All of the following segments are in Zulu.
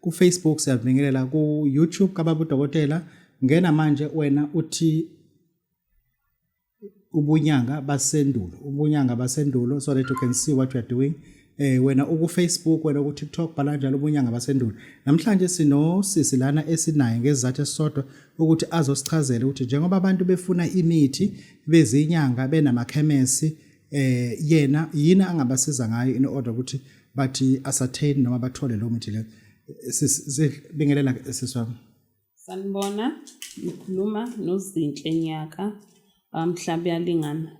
kufacebook siyabingelela ku-youtube kababa udokotela ngena manje wena uthi ubunyanga basendulo ubunyanga basendulo so that you can see what you are doing eh wena ukufacebook wena kutiktok bhala njalo ubunyanga basendulo namhlanje sinosisi lana esinaye ngezizathu esisodwa ukuthi azosichazela ukuthi njengoba abantu befuna imithi bezinyanga benamakhemesi eh yena yini angabasiza ngayo in order ukuthi bathi asattain noma bathole lo mithi le sibingelela siswami sanibona ngikhuluma nozinhle nyaka bamhlaba yalingana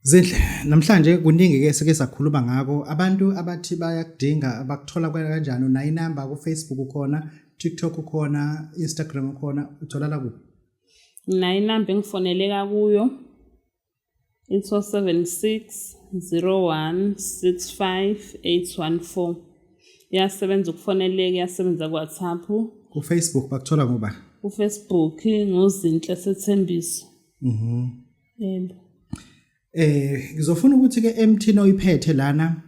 Zinhle namhlanje kuningi ke sike sakhuluma ngako abantu abathi bayakudinga bakuthola kanjani unayi number ku Facebook ukhona TikTok ukhona Instagram ukhona utholala kuphi Nginayi number engifoneleka kuyo It's 076 01 65 814. Iyasebenza ukufoneleka, iyasebenza ku-WhatsApp. KuFacebook bakuthola ngoba? KuFacebook nguZinhle Sethembiso. Mhm. Yebo. Eh ngizofuna ukuthi ke emthini oyiphethe lana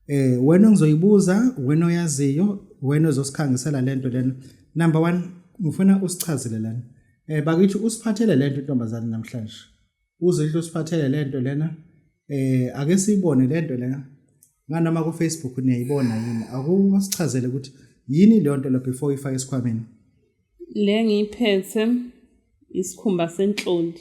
eh wena ngizoyibuza wena oyaziyo wena ozosikhangisela lento lena. Number 1 ngifuna usichazele lana. Eh bakithi usiphathele lento intombazane namhlanje. uZinhle usiphathele lento lena eh ake siyibone lento lena nganoma ku Facebook niyayibona yini akusichazele ukuthi yini leyo nto lo before ifake esikhwameni le ngiyiphethe isikhumba senhloli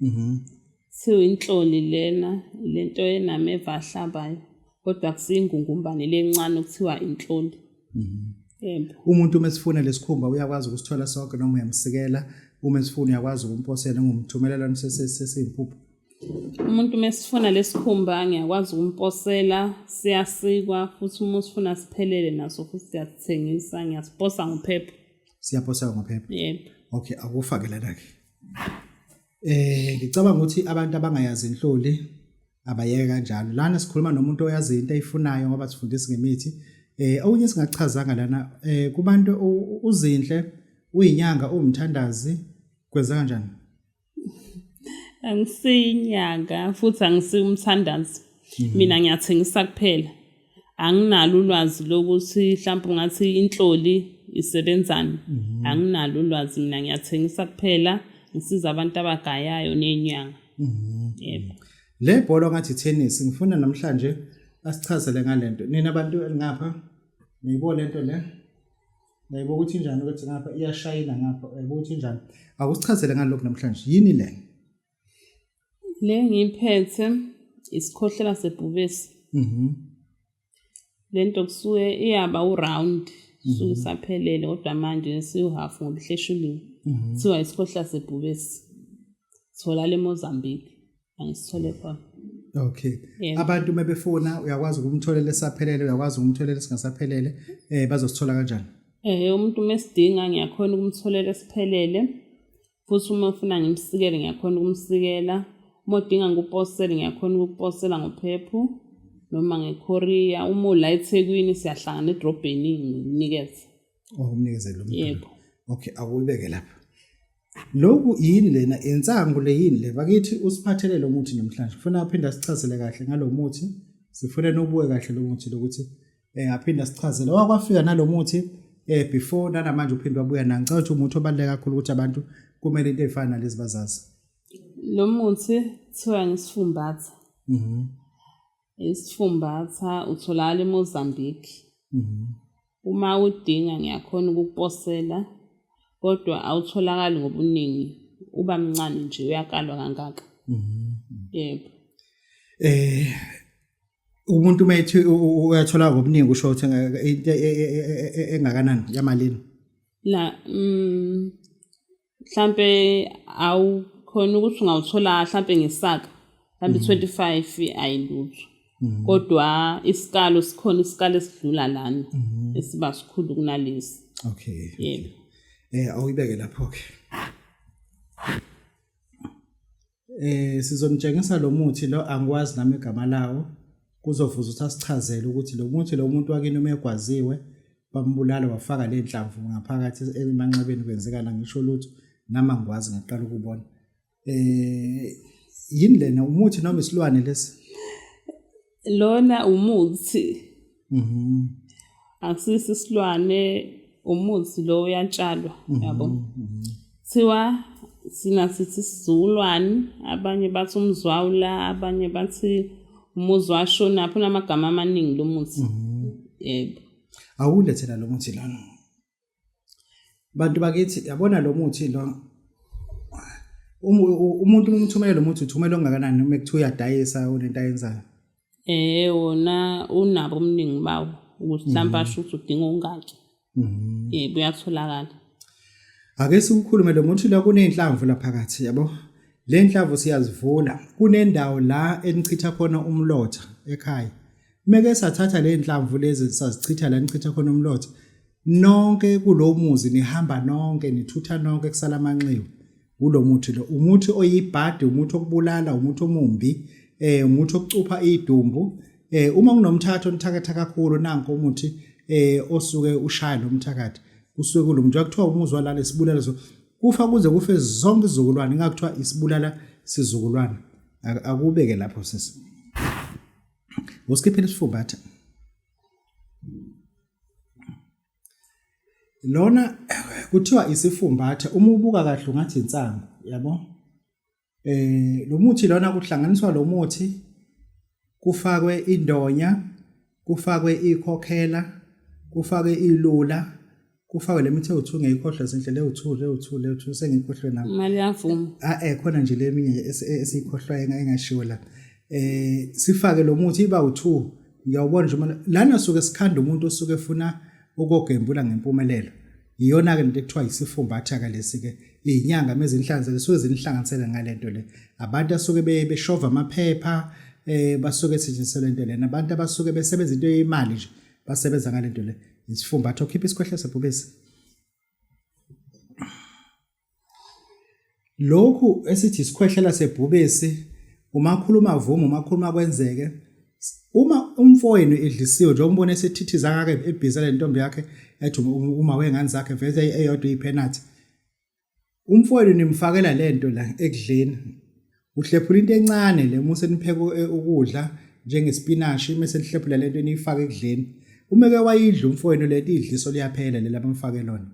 mhm siwinhloli lena lento enameva ahlabayo kodwa kusiyingungumbane lencane okuthiwa inhlonti mhm. yebo umuntu uma esifuna lesikhumba uyakwazi ukusithola sonke noma uyamsikela uma esifuna uyakwazi ukumposela ngumthumelela sesiyimpuphu umuntu uma esifuna lesikhumba ngiyakwazi ukumposela siyasikwa futhi uma usifuna siphelele naso futhi siyasithengisa ngiyasiposa ngophepha siyaposa ngophepha yebo okay akufake lana ke eh ngicabanga ukuthi abantu abangayazi inhloli abayeke kanjalo lana sikhuluma nomuntu oyazi into ayifunayo ngoba sifundisa ngemithi eh okunye singachazanga lana eh kubantu uzinhle uyinyanga uwumthandazi kwenza kanjani angisiyinyanga futhi angisiwumthandazi mhm. mina ngiyathengisa kuphela anginalo ulwazi lokuthi mhlawumbe ungathi inhloli isebenzani mhm. anginalo ulwazi mina ngiyathengisa kuphela ngisiza abantu abagayayo nenyanga mhm. yebo le bhola ngathi tennis ngifuna namhlanje asichazele ngalento nina abantu elingapha niyibona lento le nayibo ukuthi njani ukuthi ngapha iyashayina ngapha ukuthi njani akusichazele ngalokho namhlanje yini le Le ngiyiphethe isikhohlela sebhubesi. Mhm. Lento kusuke iyaba uround suke mhm. saphelele kodwa manje siwuhalf ngobuhleshuliwe. Mhm. Kuthiwa isikhohlela sebhubesi. Thola le Mozambique angisithole khona. Okay. Yeah. Abantu mebefuna uyakwazi ukumtholela esaphelele uyakwazi ukumtholela singasaphelele eh bazosithola kanjani? Eh umuntu mesidinga ngiyakhona ukumtholela esiphelele. futhi uma ufuna ngimsikele ngiyakhona ukumsikela uma udinga ngikuposele ngiyakhona ukukuposela ngophephu noma ngekorea uma ula ethekwini siyahlangana edrobheni ngikunikeze ungumnikezeli oh, yebo okay awubeke lapha lokhu yini lena insangu le yini le bakithi usiphathele lo muthi namhlanje kufuna aphinde asichazele kahle ngalo muthi sifuna nobuke kahle lo muthi lokuthi eh aphinda sichazele wakwafika nalomuthi eh before nanamanje uphinde wabuya nani ngicela ukuthi umuthi obaluleke kakhulu ukuthi abantu kumele into efana nalezi bazazi lo muthi kuthiwa ngisifumbatha mhm isifumbatha utholakala eMozambique mhm uma udinga ngiyakhona ukukuposela kodwa awutholakali ngobuningi uba mncane nje uyakalwa kangaka mhm. yebo eh umuntu uma ethi uyathola ngobuningi usho ukuthi into e, e, e, engakanani yamalini la mm, mhlambe awukhona ukuthi ungawuthola mhlambe ngesaka mhlambe 25 mhm. ayilutho mhm. kodwa isikalo sikhona isikalo esidlula lana mhm. esiba sikhulu kunalesi okay yebo eh awuyibeke lapho ke eh sizomtshengisa lo muthi lo angikwazi nami igama lawo kuzovuza ukuthi asichazele ukuthi lo muthi lo muntu wakini uma egwaziwe bambulala wafaka le nhlamvu ngaphakathi emanxebeni kwenzekana ngisho lutho nami angikwazi ngaqala ukubona eh yini lena umuthi noma isilwane lesi lona umuthi mhm akusisi isilwane umuthi lo uyatshalwa mhm, yabo mhm. thiwa sina sithi sizulwane abanye bathi umzwawula abanye bathi umuzwa shona phuna amagama amaningi lomuthi mhm. yebo awulethela lomuthi lana bantu bakithi yabona lo muthi lo umuntu uma umthumele lo muthi uthumela ongakanani uma kuthiwa uyadayisa unento ayenzayo eh wona unabo omningi bawo ukuthi mhlawumbe asho ukuthi udinga ongaki mhm. eh kuyatholakala ake siwukhulume lo muthi la kunenhlamvu la phakathi yabo le nhlavu siyazivula kunendawo la enichitha khona umlotha ekhaya meke sathatha le nhlamvu lezi sazichitha la nichitha khona umlotha nonke kulo muzi nihamba nonke nithutha nonke kusala amanxiwa ulo muthi lo umuthi oyibhadi umuthi okubulala umuthi omumbi eh umuthi okucupha idumbu eh uma kunomthatho nithakatha kakhulu nanko umuthi eh osuke ushaya lo mthakathi kusuke kulomntu akuthiwa umuzwa lale sibulala so kufa kuze kufe zonke izizukulwane ingakuthiwa isibulala sizukulwane akubeke lapho sisi usikhiphile isifuba athi lona kuthiwa isifumbathe uma ubuka kahle ungathi insangu yabo eh lo muthi lona kuhlanganiswa lo muthi kufakwe indonya kufakwe ikhokhela kufakwe ilula kufakwe le mithi ewuthu ngeyikhohlwe zinhle lewuthu lewuthu lewuthu sengikhohlwe nami imali yavuma ah eh khona nje leminye esiyikhohlwayo engayingashiwo la eh sifake lo muthi iba u2 Ngiyawubona nje manje lana suke sikhanda umuntu osuke efuna ukogembula ngempumelelo. Iyona ke into ekuthiwa isifumbatha ke lesi ke izinyanga mezinhlanze lesuke zinihlanganisele ngalento le. Abantu asuke beshova amaphepha eh basuke setshenziselwe into lena abantu abasuke besebenza into yemali nje basebenza ngalento le isifumbatho khipha isikhwehle sebhubesi Lokhu esithi isikhwehlela sebhubesi umakhuluma vuma umakhuluma kwenzeke uma umfowenu edlisiwe njengoba umbona esethithiza kake ebhiza le ntombi yakhe ethi uma wengane zakhe vese eyodwa ipenalty umfowenu nimfakela lento la ekudleni Uhlephula into encane le uma usenipheka eh, ukudla njengespinashi mese nihlephula lento eniyifaka ekudleni. Uma ke wayidla umfowenu lento idliso liyaphela lela bamfake lona.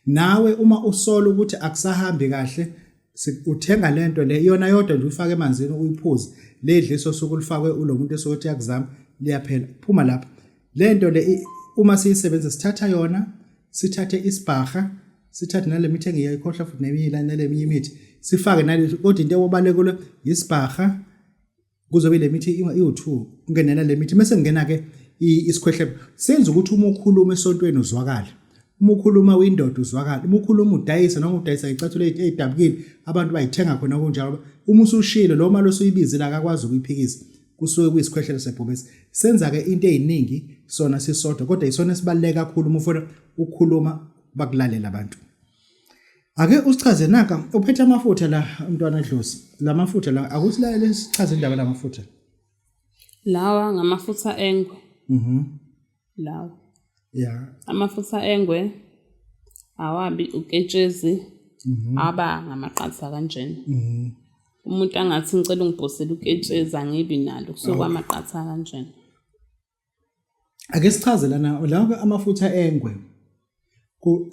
Nawe uma usola ukuthi akusahambi kahle uthenga lento le yona yodwa nje uyifaka emanzini uyiphuze ledliso osuku lifakwe ulo muntu esokuthi yakuzama liyaphela phuma lapha lento le uma siyisebenza sithatha yona sithathe isibhaha sithathe nale mithi engiyayikhohlwa futhi neminye la nale minye imithi sifake nale kodwa into ewobalekule yisibhaha kuzobe le mithi iwu-two kungenela le mithi mese ngingena ke isikhwehlebe senza ukuthi uma ukhuluma esontweni uzwakale uma ukhuluma windoda uzwakale uma ukhuluma udayisa noma udayisa icathulo eyidabukile abantu bayithenga khona kunjalo uma usushilo lo mali osuyibizile akakwazi ukuyiphikisa kusuke kuyisikhwehlelo sebhubesi senza-ke into ey'ningi sona sisodwa kodwa yisona esibaluleke kakhulu uma ufuna ukukhuluma bakulalela abantu ake usichaze naka uphethe amafutha la mntwana dlozi la mafutha la akusilalele sichaze indaba la mafutha lawa ngamafutha engwe mhm lawa ya amafutha engwe awabi uketshezi mhm. aba ngamaqatha kanjena mhm umuntu angathi ngicela ungibhosele uketshezi angibi nalo kusuke amaqatha kanjena ake sichaze lana lawo amafutha engwe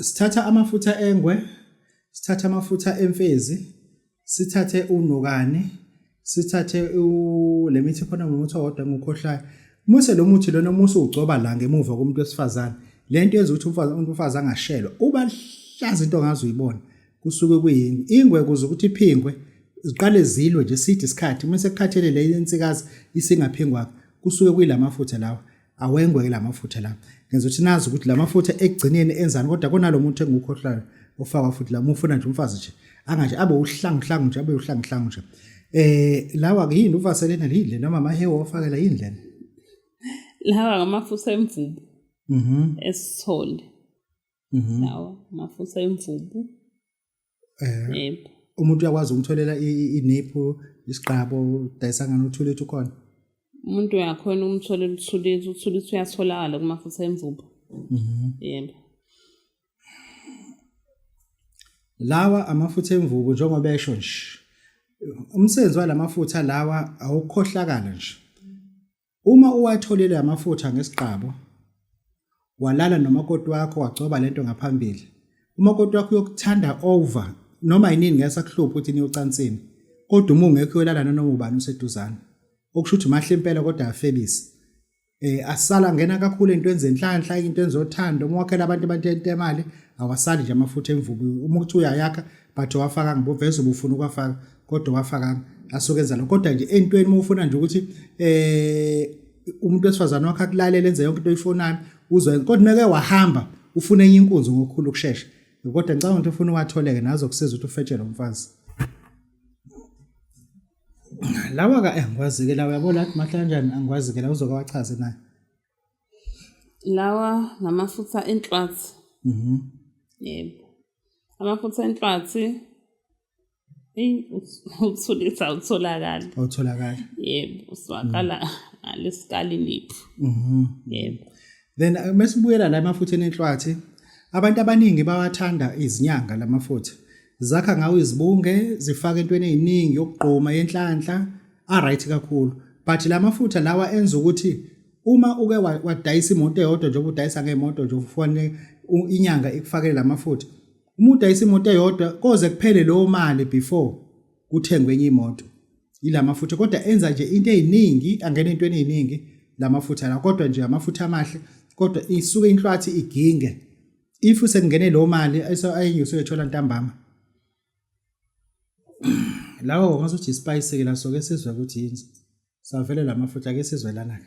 sithatha amafutha engwe sithatha amafutha emfezi sithathe unokane sithathe le mithi khona ngomuthi owodwa ngokhohlayo muse lo muthi lona musu ugcoba la ngemuva komuntu wesifazane lento yenza ukuthi umfazi umuntu umfazi angashelwa uba hlaza into ongazi uyibona kusuke kuyingwe ingwe kuze ukuthi iphingwe ziqale zilwe nje side isikhathi uma sekukhathele le insikazi isingaphingwa kusuke kuyilamafutha lawa awengweke lamafutha lawa ngenza ukuthi nazi ukuthi lamafutha ekugcineni enzani kodwa konalo muntu engukhohlayo ofaka futhi la mufuna nje umfazi nje anganje abe uhlangu hlangu nje abe uhlangu hlangu nje eh lawa ke yini uvaselena yini noma amahewa ofakela yini lena lawa ngamafutha emvubu mhm esithole Mhm. lawa mafusa emvubu Eh, yebo umuntu uyakwazi ukumtholela i- i- iniphu isiqabo udayisa ngani uthule ethi ukhona umuntu uyakhona ukumtholela uthulisi uthulisi uyatholakala kumafusa emvubu Mhm. yebo lawa amafutha emvubu njengoba esho nje umsebenzi walamafutha lawa awukhohlakala nje Uma uwatholile amafutha ngesiqabo, walala nomakoti wakho wagcoba lento ngaphambili, umakoti wakho uyokuthanda over noma yinini ngeke sakuhlupha ukuthi niyocansini kodwa uma ungekho uyolala nanoma ubani useduzane okusho ukuthi mahle impela kodwa afebisi eh asala ngena kakhulu into enze inhlanhla into enzothanda uma wakhela abantu abantente imali awasali nje amafutha emvubu uma uthi uyayakha but wafaka ngiboveza ubufuna ukwafaka kodwa wafakanga asuke enza lokho kodwa nje entweni uma ufuna nje ukuthi eh umuntu wesifazane wakhe akulalele enze yonke into oyifunayo uzwe kodwa meke wahamba ufuna enye inkunzi ngokukhulu ukushesha kodwa ngicabanga ukuthi ufuna uwatholeke nazo kusiza ukuthi ufetshele umfazi lawa ka angikwazi-ke lawa yabo lathi mahle kanjani angikwazi-ke lawa uzoke wachaze naye lawa ngamafutha enhlwathi mhm. yebo amafutha enhlwathi eyi uthulisa awutholakali awutholakali yebo uswakala mm. ngalesikali niphu mhm. yebo then uh, mesibuyela la emafutheni enhlwathi abantu abaningi bawathanda izinyanga lamafutha zakha ngawo izibunge zifaka entweni eziningi yokugqoma yenhlanhla a right kakhulu but lamafutha lawa enza ukuthi uma uke wadayisa imoto eyodwa njengoba udayisa ngemoto nje ufanele inyanga ikufakele lamafutha Uma udayisa imoto eyodwa koze kuphele leyo mali before kuthengwe enye imoto. Yila mafutha kodwa enza nje into eziningi angena into eziningi la mafutha la kodwa nje amafutha amahle kodwa isuke inhlwathi iginge. If sekungene leyo mali ayenye usuyethola ntambama. Lawo ngasothi ispice ke la soke sizwe ukuthi yini. Savele la mafutha ke sizwelana ke.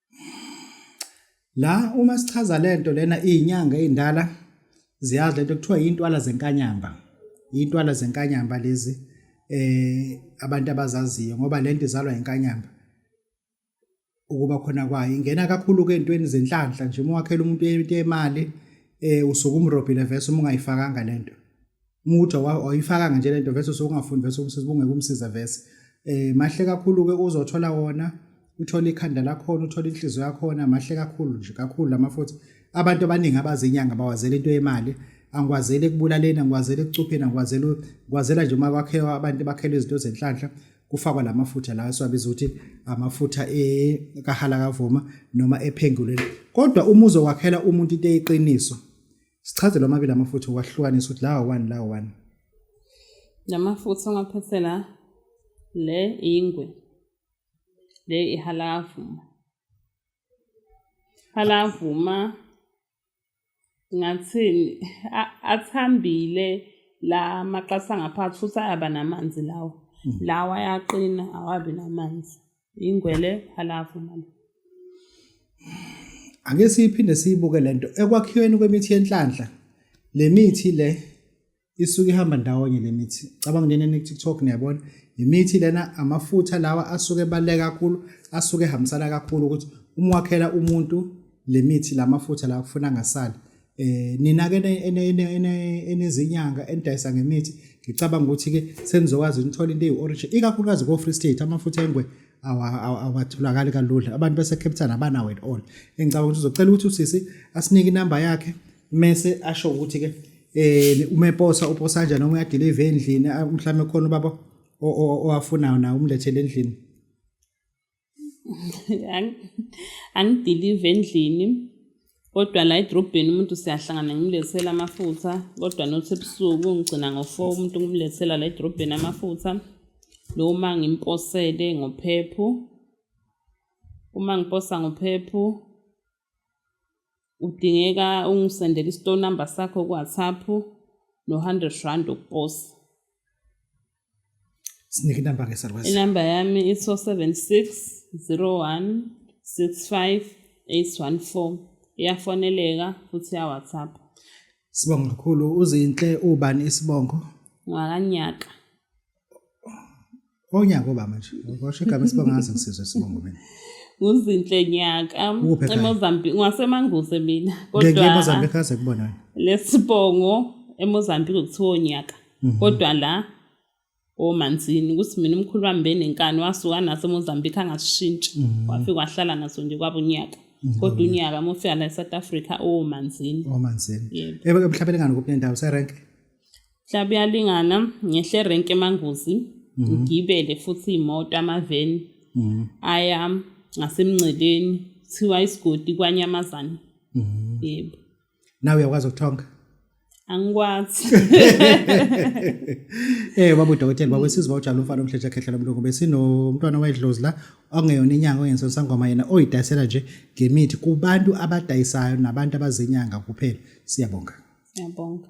La uma sichaza lento lena izinyanga ezindala ziyazi lento kuthiwa intwala zenkanyamba. Intwala zenkanyamba lezi eh abantu abazaziyo ngoba lento izalwa inkanyamba. Ukuba khona kwayo ingena kakhulu ke entweni zenhlanhla nje uma wakhela umuntu into yemali eh usuke umrobhile vese uma ungayifakanga lento. Mude wayifakanga nje lento vese sokungafundi vese umsizi bungeke umsize vese. Eh mahle kakhulu ke uzothola wona uthole ikhanda lakhona uthole inhliziyo yakhona mahle kakhulu nje kakhulu lama futhi abantu abaningi abazinyanga bawazela into yemali angikwazeli ekubulaleni angikwazeli ekucupheni angikwazeli ngikwazela nje uma kwakhewa abantu bakhelwe izinto zenhlanhla kufakwa la mafutha lawa esiwabiza ukuthi amafutha ekahala kavuma noma ephenguleni kodwa uma uzokwakhela umuntu into eyiqiniso Sichazele omabili amafutha wahlukanisa ukuthi lawa wani lawa wani. Lamafutha ongaphethela le ingwe. Le ihalavuma. Halavuma ngathini athambile la maqasa ngaphansi futhi ayaba namanzi lawo. Hmm. Lawa ayaqina awabi namanzi. Ingwele phalafu manje. Ake siphinde siyibuke lento ekwakhiweni kwemithi yenhlanhla. Le mithi le isuke ihamba ndawonye le mithi. Cabanga nje ne TikTok niyabona. Imithi lena amafutha lawa asuke ebaluleke kakhulu, asuke ehambisana kakhulu ukuthi uma wakhela umuntu le mithi lamafutha lawa kufuneka angasali. eh nina ke enezinyanga enidayisa ngemithi ngicabanga ukuthi ke senizokwazi nithola into eyi-origin ikakhulukazi ko-free state amafutha engwe awatholakali kalula abantu base-cape town abanawo at all engicabanga ukuthi uzocela ukuthi usisi asinike inamba yakhe mese asho ukuthi ke eh umeposa uposa kanjani noma uyadelive endlini mhlawumbe khona ubaba owafunayo naye umlethele endlini angidilive endlini kodwa la edrobheni umuntu siyahlangana ngimlethela amafutha kodwa nothi ebusuku ngigcina ngo-four umuntu ngimlethela la edrobheni amafutha noma ngimposele ngophepho uma ngiposa ngophepho udingeka ungisendele i-store number sakho ku-whatsapp no-hundred rand ukuposa sinike inamba ke sarwes inamba yami iso 7601658114 iyafoneleka futhi ya WhatsApp Sibonga kakhulu uzinhle ubani isibongo ngakanyaka Onyaka oba manje. Washo igama isibongo ngaze ngisizwe isibongo mina. Uzinhle nyaka eMozambique ngwasemanguze mina kodwa Ngeke eMozambique kaze kubona. Lesibongo eMozambique kuthiwa onyaka. Mhm. Kodwa la omanzini ukuthi mina umkhulu wami benenkani wasuka naso eMozambique angasishintsha. Mhm. Wafika wahlala naso nje kwaba unyaka. Mhm. Kodwa unyaka mofika la eSouth Africa omanzini. Omanzini. Yebo. Ebuhlabelengani kuphi nendawo serenke? mhlawumbe uyalingana ngehle renke emangozi mhm. ngigibele futhi imoto amaveni mhm. aya ngasemngceleni kuthiwa isigodi kwanyamazane mhm. yebo nawe uyakwazi ukuthonga angikwazi eh babu dokotela babu siziba ujalo umfana omhletshe khehla lomlungu besinomntwana wayedlozi la ongeyona inyanga ongenso sangoma yena oyidayisela nje ngemithi kubantu abadayisayo nabantu abazinyanga kuphela siyabonga siyabonga